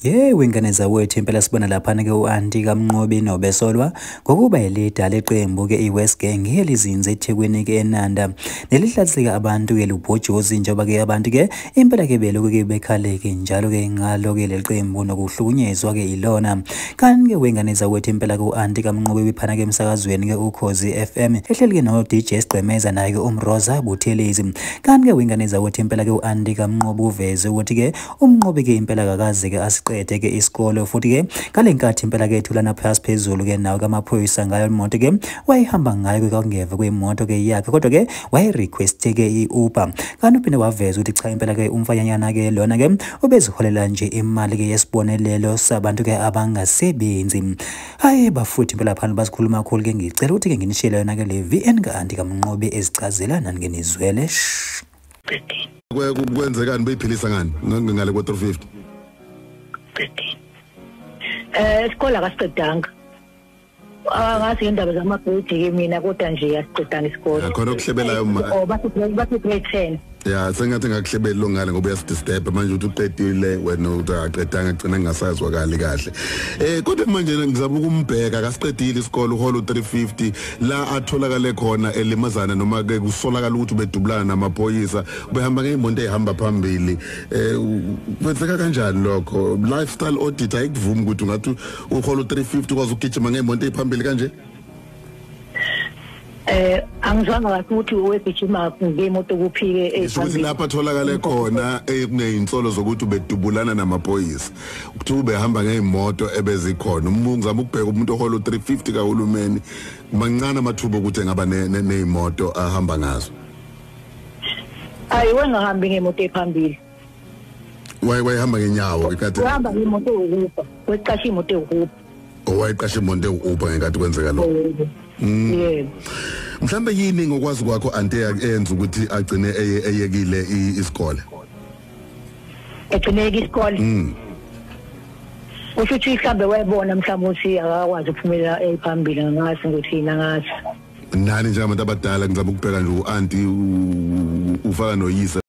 yewe ngane zawethu impela sibona laphana-ke u-anti kamnqobi nobesolwa ngokuba yilida leqembu-ke i-west gang elizinze ethekwini-ke enanda nelihlatheka abantu-ke lubhojozi njengoba-ke abantu-ke Impela ke belokhu ke bekhaleke njalo ke ngalo ke leliqembu nokuhlukunyezwa ke ilona. Kanti ke wengane zakwethu impela ku anti kamnqobe biphana ke emsakazweni ke ukhozi FM ehleli ke no DJ Sigqemeza naye ke umroza Buthelezi. Kanti ke wengane zakwethu impela ke u anti kamnqobe uveze ukuthi ke umnqobe ke impela kakaze ke asiqede ke isikole futhi ke ngalenkathi impela ke thulana phasi phezulu ke nawo kamaphoyisa ngayo imoto ke wayihamba ngayo ke kwakungeve kwemoto ke yakhe kodwa ke wayerequeste-ke i-uber kanti uphinde waveza ukuthi cha impela-ke umfanyanyana-ke lona-ke ubeziholela nje imali-ke yesibonelelo sabantu-ke abangasebenzi hhayi bafuthi impela phana bazikhuluma kakhulu-ke ngicela ukuthi-ke nginishiyele yona-ke le vn kanti kamnqobi ezicazela nani ngenizwele kwenzekani beyiphilisa ngani ngale kwa-three fifty um eh, isikole akasiqedanga angazi ngendaba zamabhedi-ke mina kodwa nje yasiqedanga isikole Ya, khona okuhlebelayo ma or bathi grade- bathi grade ten ya sengathi ngakuhlebeli lo ngane ngoba uyasidisturba manje uthi uqedile wena uthi akaqedanga agcina ngingasazwakali kahle um kodwa manje ngizama ukumbheka akasiqedile isikole uhola u-350 la atholakale khona elimazana noma-ke kusolakala ukuthi ubedubulana namaphoyisa ubehamba ngeyimoto eyihamba phambili um kwenzeka kanjani lokho lifestyle audit ayikuvumi ukuthi ungathi uhola u350 kwaze ugijima ngemonto ephambili kanje eh angizwanga kahle ukuthi owegijima ngemoto kuphike ezokuthi eh, lapha tholakale khona eh, kunezinsolo zokuthi ubedubulana namaphoyisa ukuthi ubehamba ngeimoto ebezikhona umungizama ukubheka umuntu ohola u350 kahulumeni mancane amathuba ukuthi engaba neimoto ahamba ngazo ayiwe ngahambi ngemoto ephambili waye wayehamba ngenyawo ikade uhamba ngemoto yokufa weqasha imoto yokufa owayeqasha imoto yokufa ngekade kwenzeka lo mm. yebo mhlambe yini ngokwazi kwakho ante yenza ukuthi agcine eyekile isikole egcineke isikole mm. usho ukuthi mhlambe wayebona mhlawumbe ukuthi akakwazi ukuphumelela ephambili ngase ukuthi yini angase nani njengabantu abadala ngizama ukubheka nje u-anti ufaka noyise